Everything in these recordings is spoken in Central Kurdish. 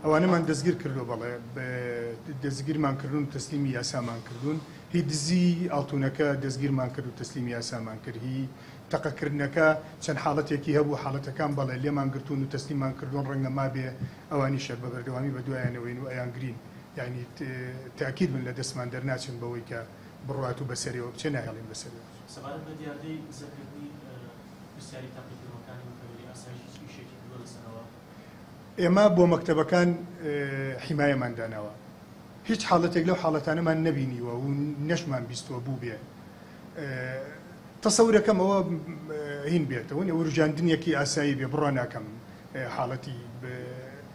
ئەوانەمان دەستگیر کردوە بەڵێ دەستگیرمان کردون و تەسلیمی یاسامان کردون هی دزی ئاڵتونەکە دەستگیرمان کرد و تەسلیمی یاسامان کرد هی تەقەکردنەکە چەند حاڵەتێکی هەبوو حاڵەتەکان بەڵێ لێمان گرتون و تەسلیمان کردون ڕەنگە مابێ ئەوانیشە بە بەردەوامی بە دوایانەوەین و ئەیان گرین یعنی تاکید من لە دەستمان دەرناچن بەوەی کە بڕوات و بەسەرەوە بچێ ناهێڵین بەسەرەوە بچێ. پرسیاری تاقی کردوەکانی متەوەلی ئاسایش هیچ ئیشێکی کردوە لەسەرەوە؟ ئێمە بۆ مەکتەبەکان حیمایەمان داناوە هیچ حاڵەتێک لەو حاڵەتانەمان نەبینیوە و نەشمان بیستوە بوبێ تەسەورەکەم ئەوە هین بێتەوە وروژاندنیەکی ئاسایی بێ بڕوا ناکەم حاڵەتی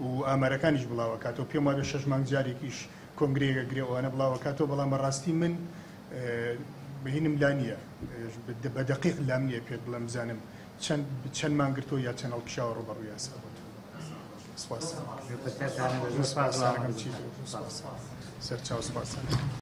و ئامارەکانیش بڵاوئەکاتەوە پێم وابێ شەش مانگ جارێکیش کۆنگرەیەک ئەگرێ و ئەوانە بڵاوئەکاتەوە بەڵام بەڕاستی من بینم لا نییە بە دەقیق لام نییە پێت بڵێم بزانم چەند چەند مان گرتۆ یا چەند هەڵکشاوە ڕوبەڕوو یاسا بۆت سپاس سەرچاو سپاس